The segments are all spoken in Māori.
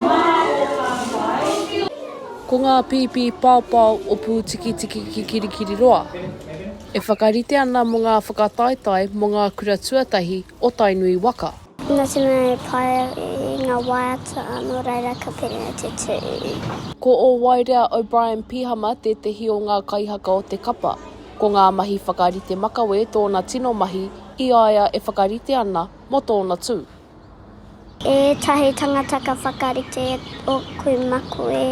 Mā ō whāngai. Ko ngā pīpī paopao o Pūtikitiki ki Kirikiriroa e whakarite ana mō ngā whakataetae mō ngā kura tuatahi o Tainui waka. Nā te mea e pai ai ngā waiata nō reira ka piri ai te tū. Ko Owaerea O'Brien Pihama tētehi o ngā kaihaka o te kapa. Ko ngā mahi whakarite makawe tōna tino mahi i a ia e whakarite ana mō tōna tū. Etahi tangata ka whakarite o kui maku e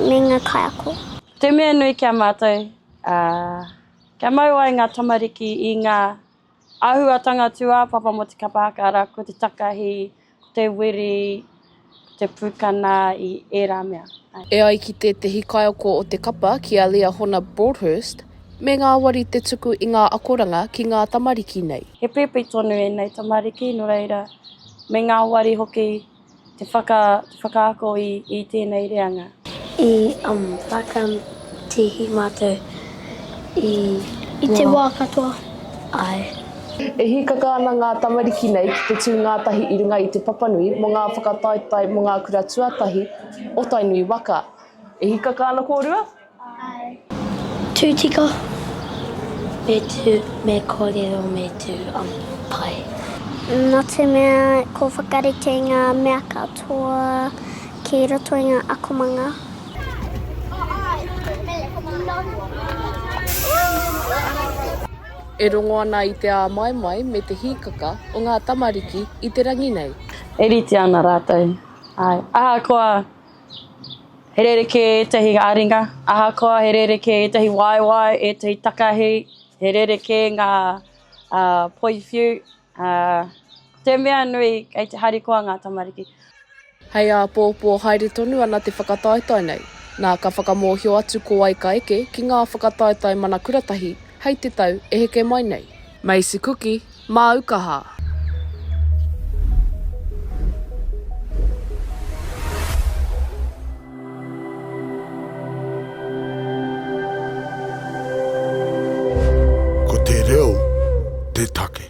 me nga kaiako. Te mea nui ki a matou, kia mau ai nga tamariki i nga ahuatanga tuapapa mo te kapa haka ara ko te takahi te wiri, te pūkana i ērā mea. E ai ki tētehi kaiako o te kapa, ki a Liahona Broadhurst, me ngāwari te tuku i ngā akoranga ki ngā tamariki nei. He pēpi tonu ēnei tamariki, nō reira, me ngāwari hoki te whakaako i tēnei reanga. I whakam tihi matou i te wa. I te wa katoa, ae. E hīkaka ana ngā tamariki nei ki te tū ngātahi i runga i Te Papanui mō ngā whakataetae mō ngā kura tuatahi o Tainui waka. E hīkaka ana kōrua? Tū tika, me tū, me kōrero, me tū pai. Nā te mea ko whakarite i ngā mea katoa ki roto i ngā akomanga. E rongo ana i te āmaimai me te hīkaka o ngā tamariki i te rangi nei. E rite ana rātou, āe. Ahakoa He rerekē ētahi ā-ringa, ahakoa he rerekē ētahi waewae, ētahi takahi, he rerekē ngā poi whiu, ko te mea nui kei te harikoa ngā tamariki. Hei āpōpō haere tonu ana te whakataetae nei, nā ka whakamōhio atu ko wai ka eke ki ngā whakataetae mana kuratahi hei te tau e heke mai nei. Macy Kuki, Māukaha. Ko te reo te take.